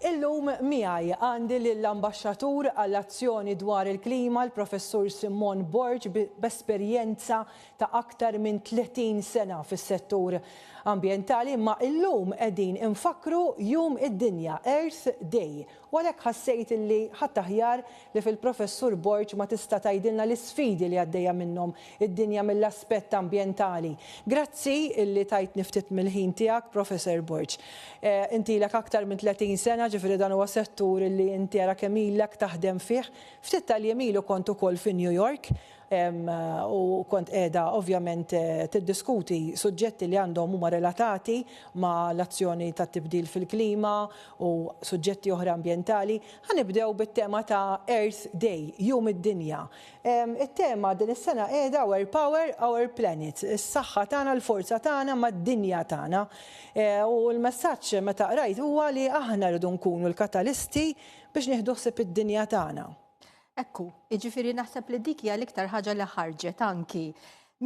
Illum miegħi għandi lill-Ambaxxatur għall-Azzjoni dwar il-Klima, l-Professur Simone Borg b'esperjenza ta' aktar minn 30 sena fis-settur ambjentali imma illum qegħdin infakkru jum id-dinja, Earth Day, u għalhekk ħassejt li ħadd aħjar li fil-Professur Borg ma tista' tgħidilna l-isfidi li għaddejja minnhom id-dinja mill-aspett ambjentali. Grazzi illi tajtni ftit mill-ħin tiegħek, Professor Borg. Inti ilek aktar minn 30 sena, ġifieri dan huwa settur illi inti ara kemm ilek taħdem fih. Ftit tal-jiem ilu kont ukoll fi New York u kont qiegħda ovvjament tiddiskuti suġġetti li għandhom huma relatati ma' l-azzjoni tat-tibdil fil-klima u suġġetti oħra ambjentali. Ħa nibdew bit-tema ta' Earth Day, Jum id-Dinja. It-tema din is-sena qiegħda Our Power, Our Planet, is-saħħa tagħna, l-forza tagħna mad-dinja tagħna. U l-messaġġ meta qrajt huwa li aħna rridu nkunu l-katalisti biex nieħdu ħsieb id-dinja tagħna. Ekku, jiġifieri naħseb li dik hija l-iktar ħaġa li ħarġet anki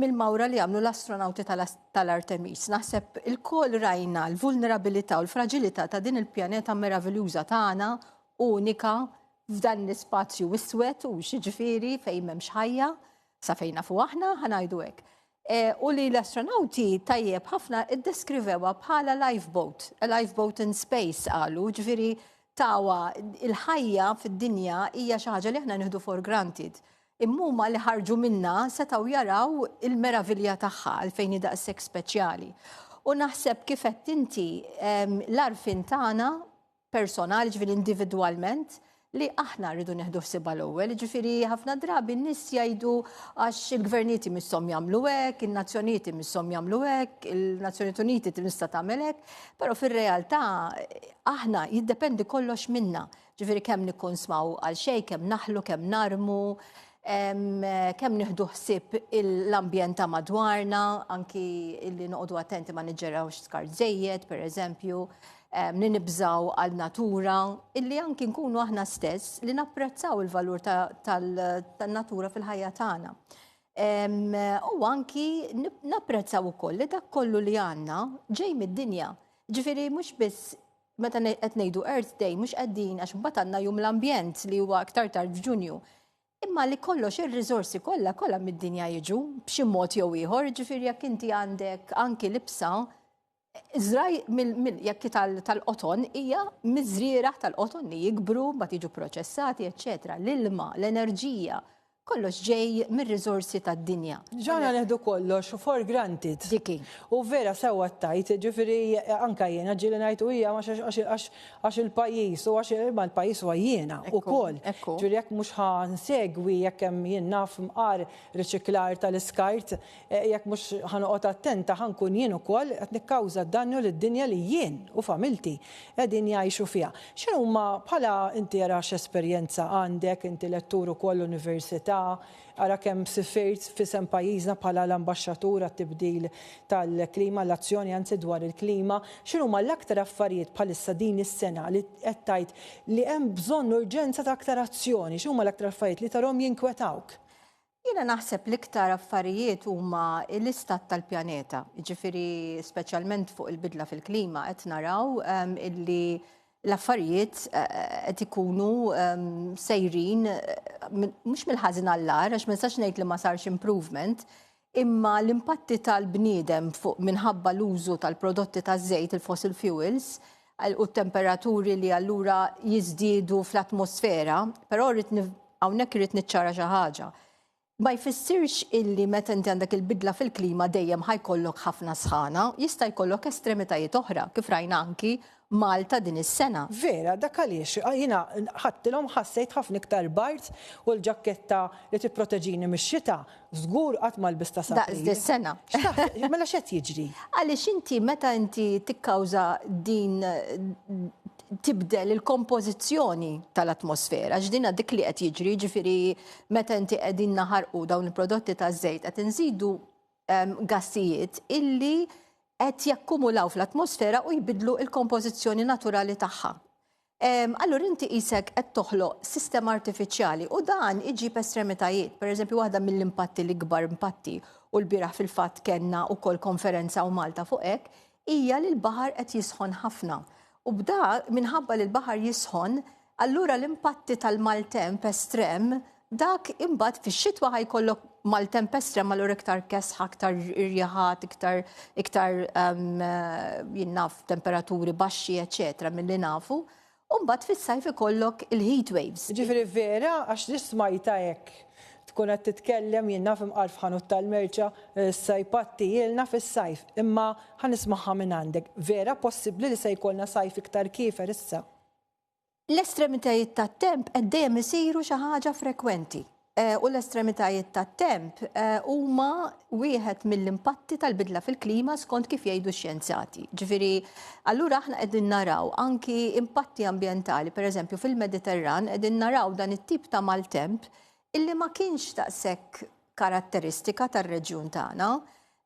mill-mawra li għamlu l-astronawti tal-Artemis. Naħseb il-kol rajna l-vulnerabilità u l-fragilità ta' din il-pjaneta meraviljuża tagħna, unika, f'dan l-ispazju iswed u xiġifieri fejn m'hemmx ħajja sa fejna fu aħna ħanajdu hekk. E, u li l-astronauti tajjeb ħafna iddeskrivewa bħala lifeboat, a lifeboat in space qalu, ġifieri tawa il-ħajja fid-dinja hija xi ħaġa li aħna nieħdu for granted. Immuma li ħarġu minna setgħu jaraw il-meravilja tagħha għalfejn hi daqshekk speċjali. U naħseb kif qed inti l-arfin tagħna personali, ġifieri individwalment, li aħna rridu neħdu ħsiba l-ewwel, ġifiri ħafna drabi n-nies jgħidu għax il-gvernijiet imisshom jagħmlu hekk, in-nazzjonijiet imisshom jagħmlu hekk, il-Nazzjonijiet Uniti tinista' tagħmel hekk, però fir-realtà aħna jiddependi kollox minna. Ġifieri kemm nikkonsmaw għal xejn, kemm naħlu, kemm narmu, kemm nieħdu ħsieb l-ambjent ta' madwarna, anki li noqogħdu attenti ma niġġerawx skart żejjed, pereżempju. eżempju li nibżaw għal natura, illi anki nkunu aħna stess li napprezzaw il-valur tal-natura fil-ħajja tagħna. U anki napprezzaw ukoll li dak kollu li għandna ġej mid-dinja. Ġifieri mhux biss meta qed ngħidu Earth Day mhux qegħdin għax mbagħad għandna jum l-ambjent li huwa aktar tard f'Ġunju. Imma li kollox ir-riżorsi kollha kollha mid-dinja jiġu b'xi mod jew ieħor, ġifieri jekk inti għandek anki libsa Zraj mill-jekki tal-qoton hija miżrieraħ tal-qoton li jikbru, ma tiġu proċessati, eċċetera. L-ilma, l-enerġija, kollox ġej mir-riżorsi tad-dinja. Ġana neħdu kollox for granted. Diki. U vera sewa tajt, ġifiri anka jiena ġili ngħid u hija għax il-pajjiż u għax ma l-pajjiż huwa jiena ukoll. Ġifieri jekk mhux ħan segwi jekk hemm jien naf mqar riċiklar tal-iskart Jekk mhux ħa noqgħod attenta ħa nkun jien ukoll qed nikkawża dannu lid-dinja li jien u familti qegħdin jgħixu fiha. X'inhuma bħala inti ara x'esperjenza għandek, inti lettur ukoll università, ara kemm sifirt f'isem pajjiżna bħala l-ambaxxatur għat-tibdil tal-klima, għall-azzjoni anzi dwar il-klima, x'inhuma l-aktar affarijiet bħalissa din is-sena li qed tgħid li hemm bżonn urġenza ta' aktar azzjoni, x'inhuma l-aktar affarijiet li tarhom jinkwetawk? Jiena naħseb l-iktar affarijiet huma l-istat tal-pjaneta, jiġifieri speċjalment fuq il-bidla fil-klima qed naraw ehm, illi l-affarijiet eh, qed ikunu ehm, sejrin eh, mhux mill-ħażin għall-ar, għax ma nistax ngħid li ma sarx improvement, imma l-impatti tal-bniedem fuq minħabba l-użu tal-prodotti taż-żejt il-fossil fuels u t-temperaturi li allura jiżdiedu fl-atmosfera, però rrid hawnhekk irrid niċċara xi ħaġa. Ma jfissirx illi meta inti għandek il-bidla fil-klima dejjem ħajkollok ħafna sħana, jista' jkollok estremitajiet oħra, kif rajna anki Malta din is-sena. Vera, dak għaliex jiena ħadtilhom ħassejt ħafna iktar bard u l-ġakketta li tipproteġini mix-xita Żgur qatt ma lbist ta' saħħa. Daqs dis-sena. X'taħseb? Mela x'qed jiġri? Għaliex inti meta inti tikkawża din tibdel il-kompożizzjoni tal-atmosfera, x'dina dik li qed jiġri, ġifieri meta inti qegħdin naħarqu dawn il-prodotti taż-żejt qed inżidu ehm, gassijiet illi qed jakkumulaw fl-atmosfera u jbidlu il-kompożizzjoni naturali tagħha. Allura inti qisek qed toħloq sistema artifiċjali u dan iġib estremitajiet. Per eżempju, waħda mill-impatti l-ikbar impatti u l-biraħ fil-fatt kellna wkoll konferenza u Malta fuq hekk hija li l-baħar qed jisħon ħafna. U b'da minħabba li l-baħar jisħon, allura l-impatti tal-maltemp estrem Dak imbagħad fix-xitwa ħa jkollok maltemp estrem allura iktar kesħa, iktar irjaħat, iktar iktar ehm, jinnaf temperaturi baxxi, eċetera, milli nafu. U mbagħad fis-sajf ikollok il-heat waves. Ġifieri vera għax li smajta hekk tkun qed titkellem jien naf imqar f'ħanut tal-merċa eh, sajpatti ilna fis-sajf. Imma ħanismaħħa minn għandek. Vera possibbli li se jkollna sajf iktar kiefer issa? L-estremitajiet tat-temp qed dejjem isiru xi ħaġa frekwenti u l-estremitajiet tat-temp huma wieħed mill-impatti tal-bidla fil-klima skont kif jgħidu x-xjenzati. Ġifieri, allura aħna qegħdin naraw anki impatti ambjentali, pereżempju fil-Mediterran qegħdin naraw dan it-tip ta' maltemp illi ma kienx daqshekk karatteristika tar-reġjun tagħna.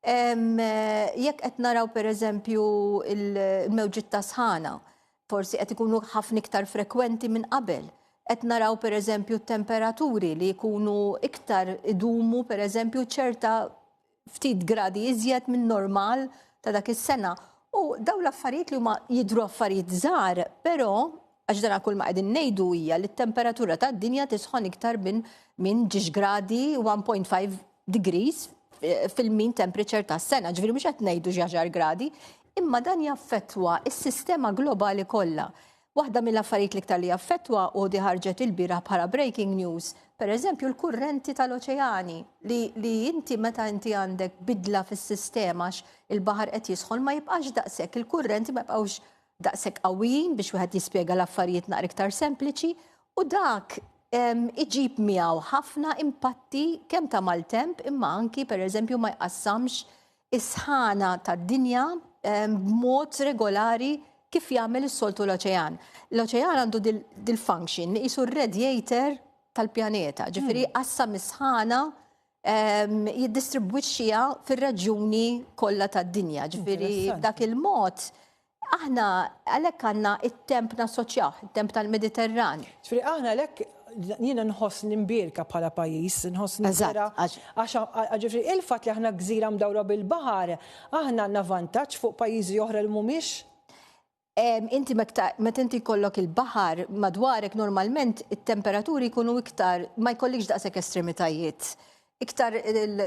Jekk qed naraw pereżempju l-mewġiet ta' sħana, forsi qed ikunu ħafna iktar frekwenti minn qabel. Qed naraw pereżempju temperaturi li jkunu iktar idumu pereżempju ċerta ftit gradi iżjed minn normal ta' dak is-sena. U daw l-affarijiet li huma jidru affarijiet żgħar, però għax dan kull ma qegħdin ngħidu hija li t-temperatura tad-dinja tisħon iktar minn minn ġiex gradi 1.5 degrees fil-mean temperature tas-sena, ġifieri mhux qed ngħidu xi għaxar gradi, imma dan jaffettwa s-sistema globali kollha. Waħda mill-affarijiet l-iktar li jaffettwa u di ħarġet il-bieraħ bħala breaking news, per eżempju l-kurrenti tal-oċeani li, li inti meta inti għandek bidla fis-sistema il-baħar qed jisħon ma jibqax daqshekk, il-kurrenti ma jibqgħux daqshekk qawwijin biex wieħed jispjega l-affarijiet naqra iktar sempliċi U dak iġib miegħu ħafna impatti kemm ta' maltemp imma anki pereżempju ma jqassamx is-sħana tad-dinja b'mod regolari kif jagħmel is-soltu l-oċean. L-oċean għandu dil-function li qisu r-radiator tal-pjaneta, ġifieri hmm. qassam is-sħana jiddistribwixxiha fir-reġjuni kollha tad-dinja, ġifieri dak il-mod Aħna għalhekk għandna t-temp nassoċjawh, it-temp tal-Mediterran. Ġifieri aħna għalhekk jiena nħoss nimbierka bħala pajjiż, nħoss nimbierka għax ġifieri il-fatt li aħna gżira mdawra bil-baħar, aħna għandna vantaġġ fuq pajjiżi oħra li mhumiex Inti meta inti jkollok il-baħar madwarek normalment it-temperaturi jkunu iktar ma jkollikx daqshekk estremitajiet. iktar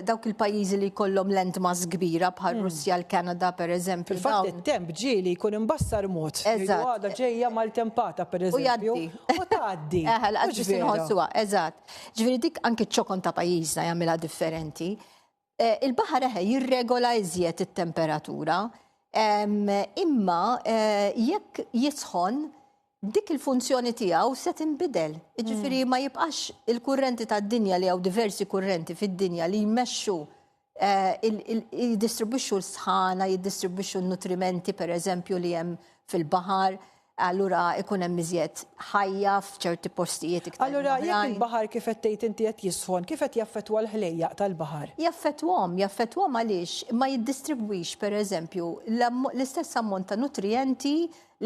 dawk il-pajjiżi li jkollhom landmass kbira bħal hmm. Russja, l-Kanada per eżempju. Fil-fatt it-temp ġieli jkun imbassar mod. Eżatt. Għada ġejja mal-tempata per eżempju. U tgħaddi. Eħel, għaddi sinħossuha, eżatt. Ġifieri dik anke ċokon ta' pajjiżna jagħmilha differenti. Eh, il-baħar eħe jirregola iżjed it-temperatura. Imma eh, jekk jisħon dik il-funzjoni tiegħu se tinbidel. Jiġifieri mm. ma jibqax il-kurrenti tad-dinja li hawn diversi kurrenti fid-dinja li jmexxu eh, jiddistribwixxu l-sħana, jiddistribwixxu n-nutrimenti pereżempju li hemm fil-baħar allura ikun hemm iżjed ħajja f'ċerti postijiet iktar. Allura jekk il-baħar kif qed tgħid inti qed jisħon, kif qed jaffettwa l-ħlejjaq tal-baħar? Jaffettwhom, jaffettwhom għaliex ma jiddistribwix pereżempju l-istess ammont ta' nutrijenti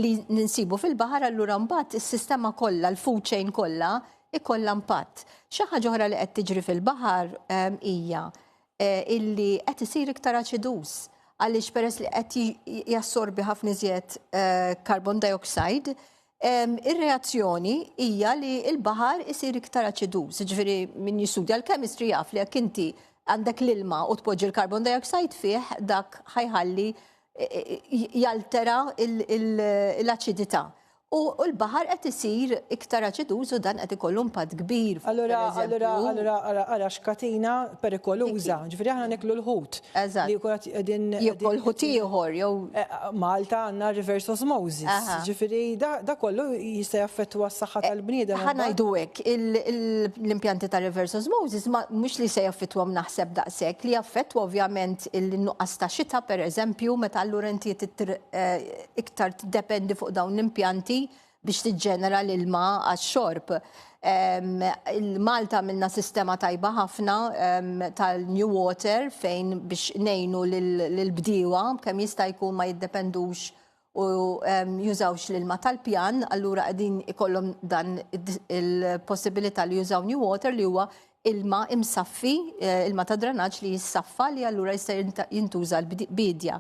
li ninsibu fil-baħar allura mbagħad is-sistema kollha, l-food chain kollha ikollha impatt. Xi ħaġa oħra li qed tiġri fil-baħar ehm, hija eh, illi qed isir iktar aċidus għaliex peress li qed jassorbi ħafna iżjed eh, carbon dioxide, ehm, ir-reazzjoni hija li l-baħar isir iktar aċidus, ġifieri min jistudja l-chemistry jaf li jekk inti għandek l-ilma u tpoġġi l-carbon dioxide fih dak ħajħalli jaltera l-aċidità. U l-baħar qed isir iktar aċiduż u dan qed ikollu impatt kbir. Allura, allura, allura, ara x'katina perikoluża. Ġifieri aħna niklu l-ħut. Eżatt. Li jkun qegħdin. Jekk ħut ieħor jew. Eh, Malta għandna reverse osmosis. Ġifieri da kollu jista' jaffettwa s-saħħa eh, tal-bniedem. Ħa ngħidu hekk, l-impjanti ta' reverse osmosis mhux li se jaffettwa naħseb daqshekk li jaffettwa ovvjament il-nuqqas ta' xita pereżempju, meta allura inti iktar tiddependi fuq dawn l-impjanti biex tiġġenera l-ilma għax-xorb. Malta minna sistema tajba ħafna tal-New Water fejn biex nejnu l-bdiewa kemm jista' jkun ma jiddependux u jużawx l-ilma tal-pjan, allura qegħdin ikollhom dan il-possibilità li jużaw new water li huwa ilma imsaffi, eh, ilma ta' dranaġġ li jissaffa li allura jista' jintuża l-bidja.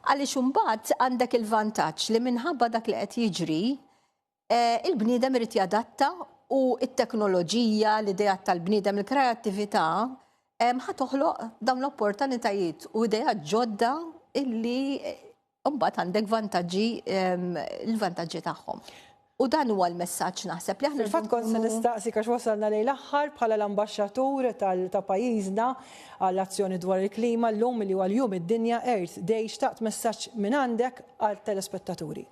Għaliex imbagħad għandek il-vantaġġ li minħabba dak li qed jiġri Eh, il-bniedem irid jadatta u t-teknoloġija, l-idejat tal-bniedem, il-kreattività ħa toħloq dawn l-opportunitajiet u idejat ġodda illi eh, mbagħad għandek vantaġġi l-vantaġġi tagħhom. U dan huwa l-messaġġ naħseb li aħna. Fil-fatt kont se nistaqsi għax wasalna lejn l-aħħar bħala l-ambaxxatur ta' pajjiżna għall azzjoni dwar il-klima llum li huwa l-jum id-dinja Earth Day xtaqt messaġġ minn għandek għal telespettaturi.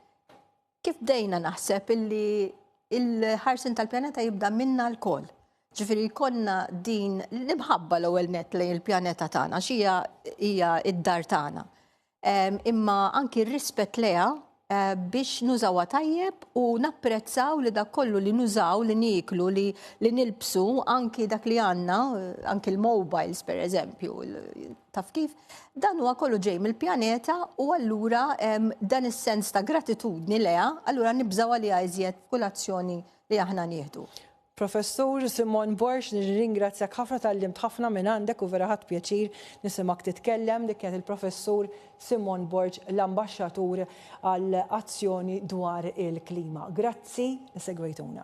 Kif bdejna naħseb illi il-ħarsin tal-pjaneta jibda minna l-koll. Ġifiri konna din l-imħabba l-ewwel net lejn il-pjaneta tagħna xija hija id-dar tagħna. Imma anki r-rispett leha eh, biex nużawha tajjeb u napprezzaw li dak kollu li nużaw, li niklu, li, li nilbsu, anki dak li għanna, eh, anki l-mobiles per eżempju, Taf kif? Dan huwa kollu ġej mill-pjaneta u allura dan is-sens ta' gratitudni leha, allura nibżaw għaliha iżjed kull azzjoni li aħna nieħdu. Professur Simon Borx, nirringrazzjak ħafna tal-limt ħafna minn għandek u vera ħadd pjaċir nisimak titkellem dik kienet il-Professur Simon Borġ l-Ambaxxatur għal azzjoni dwar il-klima. Grazzi, segwejtuna.